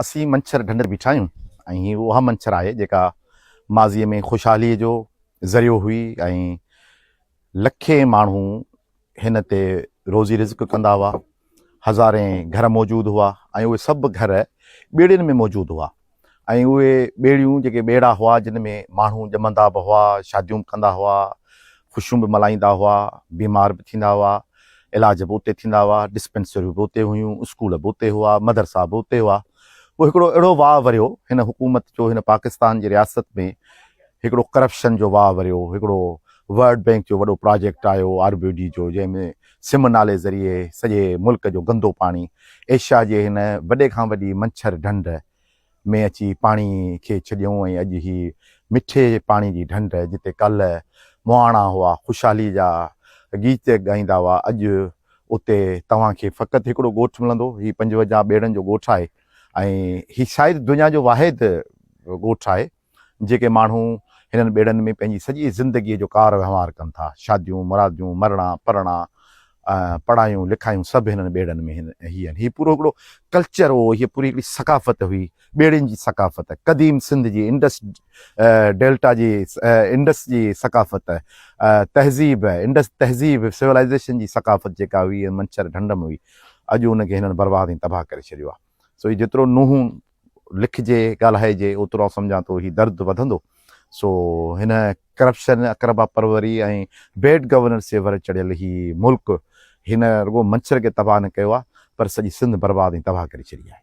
اسين منڇر ڍنڍ تي بيٺا آهيون ۽ هي اها منڇر آهي جيڪا ماضيء ۾ خوشحاليء جو ذريعو هئي ۽ لکين ماڻهو هن تي روزي رزق ڪندا هئا، هزارين گهر موجود هئا ۽ اهي سڀ گهر ٻيڙين ۾ موجود هئا ۽ اهي ٻيڙيون جيڪي ٻيڙا هئا جن ۾ ماڻهو ڄمندا به هئا، شاديون به ڪندا هئا، خوشيون به ملهائيندا هئا، بيمار به ٿيندا هئا. علاج به اتي ٿيندا هئا، ڊسپينسريون به اتي هيون، اسڪول به اتي هئا، مدرسا به اتي هئا. پوء هڪڙو اهڙو واهه وريو هن حڪومت جو، هن پاڪستان جي رياست ۾ هڪڙو ڪرپشن جو واهه وريو، هڪڙو ورلڊ بينڪ جو وڏو پراجيڪٽ آيو آر بي ڊي جو، جنهن ۾ سم نالي ذريعي سڄي ملڪ جو گندو پاڻي ايشيا جي هن وڏي کان وڏي منڇر ڍنڍ ۾ اچي پاڻي کي ڇڏيون ۽ اڄ هي مٺي پاڻي جي ڍنڍ جتي ڪالهه مهاڻا هئا خوشحالي جا گيت ڳائيندا هئا اڄ اتي توهان کي فقط هڪڙو ڳوٺ ملندو هي پنجونجاهه ٻيڙن جو ڳوٺ آهي ۽ هي شايد دنيا جو واحد ڳوٺ آهي. جيڪي ماڻهو هنن ٻيڙن ۾ پنهنجي سڄي زندگيء جو ڪار وهنوار ڪن ٿا، شاديون، مراديون، مرڻا، پرڻا، پڙهايون، لکايون سڀ هنن ٻيڙن ۾ هي آهن. هي پورو هڪڙو ڪلچر هو، هيء پوري هڪڙي ثقافت هئي، ٻيڙين جي ثقافت، قديم سنڌ جي انڊس ڊيلٽا جي انڊس جي ثقافت، تهذيب، انڊس تهذيب، Civilization، جي ثقافت جيڪا هئي، منڇر ڍنڍ م هئي، اڄ ان کي هنن برباد ۽ تباهه ڪري ڇڏيو آهي. سو هي جيترو نوحون لکجي ڳالهائجي اوترو آئون سمجهان ٿو هي درد وڌندو سو هن ڪرپشن اقربا پروري ۽ بيڊ گورننس جي ور چڙهيل هي ملڪ هن رڳو منڇر کي تباهه نه ڪيو آهي پر سڄي سنڌ برباد ۽ تباهه ڪري ڇڏي آهي.